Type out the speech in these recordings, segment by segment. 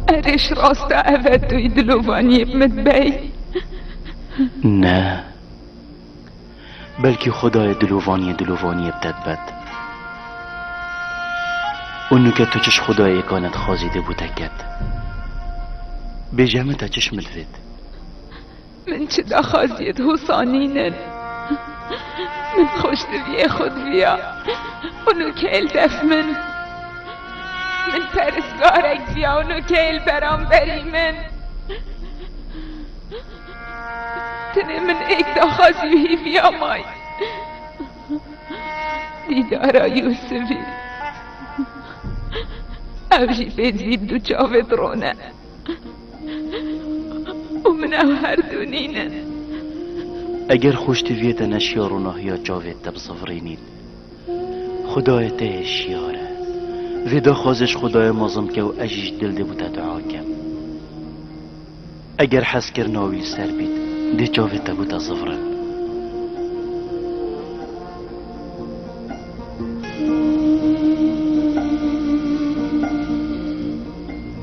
Erêş rasta ev e tu yî dilovaniyê bi min bey. Ne. Belkî Xwedayê dilovaniyê dilovaniyê bi te dibet. û nuke tu çiş Xwedayê kane dixwazî dê bû te ket. Bêje min te çiş min divêt. Min çi daxwaziyê di hûsa nînin. Min xweş diviyê xwe diviya û nu keyl def min. Min peristgarek diviya û nu keyl beramberî min. Tenê min êk daxwazî û hîviya may dîdara Yûsivî. Ev jî bêdvîn du çavê bi rone. û min ew her du nînin. Eger xwe ji te viyê te neşiya ronahiya çavê te bi sivirî nîn. Xwedayê te yê şiyar e. Vê daxwazê ji Xwedayê mezin bike û ez jî ji dil dê bo te dua kim. Eger hezkirina wî li ser bît, dê çavê te bo te zivirin.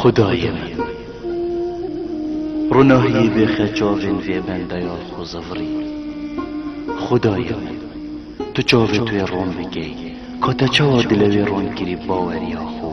Xudayê min, runahiyê bêxe çavên vê bendeya xwe zevirî. Xudayê min, tu çavê tu yê ron bikî, ka te çawa dilê wê ron kirî baweriya xwe.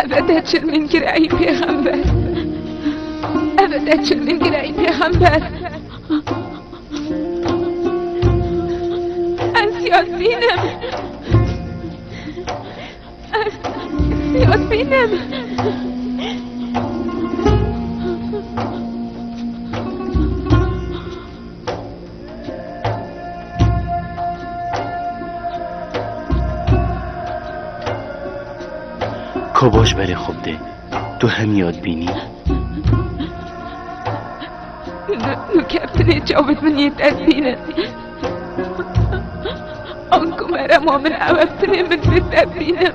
Ev e te çil min kir ey pêxember. Ev e te çil min kir ey pêxember. Ez Yasin'im. Ez Yasin'im. Ko boş berê xwe bidê. Tu hemiya dibînî. Nu keftinê çavên min yê te dibînin. Anku merema min ew eftinê min bê te dibînim.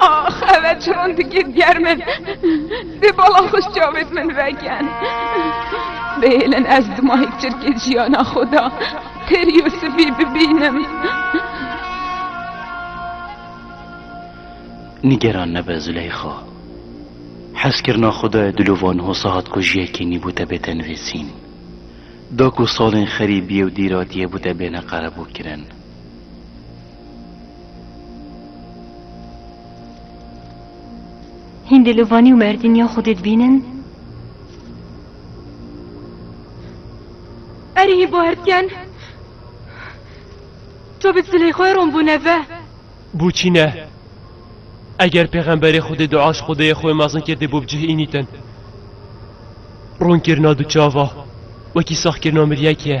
Ax ev çiron dikir ger min Dê bala xweş çavêt min veken Bêlin ez dimahîk çirkê jiyana xwe da Têr Yûsifî bibînim Nigeran nebe Züleyxa Hezkirina xwe da dilovan hosa hat ku jiyekê nî bû te bê tenvêsîn Da ku salên xerîbiyê û dîratiye bû te bêne qerebûkirin Hîndê li Vanî û Merdînî ya Xwedê dibînin? Erê hîn bo herdken. To bi silê xwe rom bû neve. Bûçî ne. Eger pêxemberê Xwedê dua ji Xwedê yê xwe mezin kirdê bo bi cih înîtin. Rûnkirina du çava wekî saxkirina miryekê ye.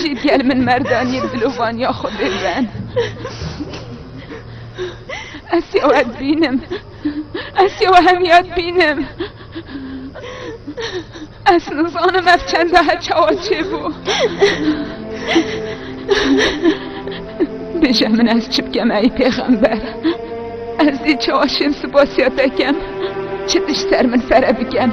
Jî gel min merdaniyê dilovaniya Xwedê ben. Ez ya we dibînim. Ez ya we hemiya dibînim. Ez nizanim ev çenda he çawa çêbû. Bêje min ez çi bikem ey pêxember. Ez dî çawa şêm sipasiya te kem. Çi tişt ser min fere bikem.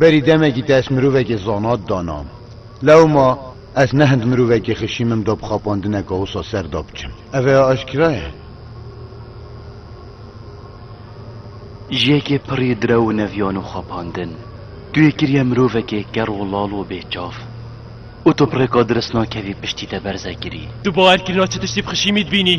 Berî demekî te ez mirovekê zana didana. Lewma ez ne hind mirovekê xişî min da bi xapandine ka wisa ser da biçim. Ev ê aşkira ye. Ji yekê pirrî direw û neviyan û xapandin, tu yê kiriye mirovekê ker û lal û bêçav. Û tu bi rêka dirist nakevî piştî te berze kirî. Tu bawer kirina çi tiştî bi xişî mî dibînî.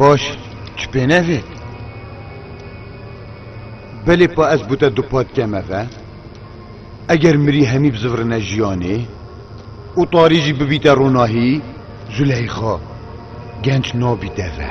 Baş tu pê nevê? Belê pa ez bû te du pat kemeve. Eger mirî hemî bi zivrine jiyanê û tarî jî bibîte ronahî Zuleyxa genç nabî deve.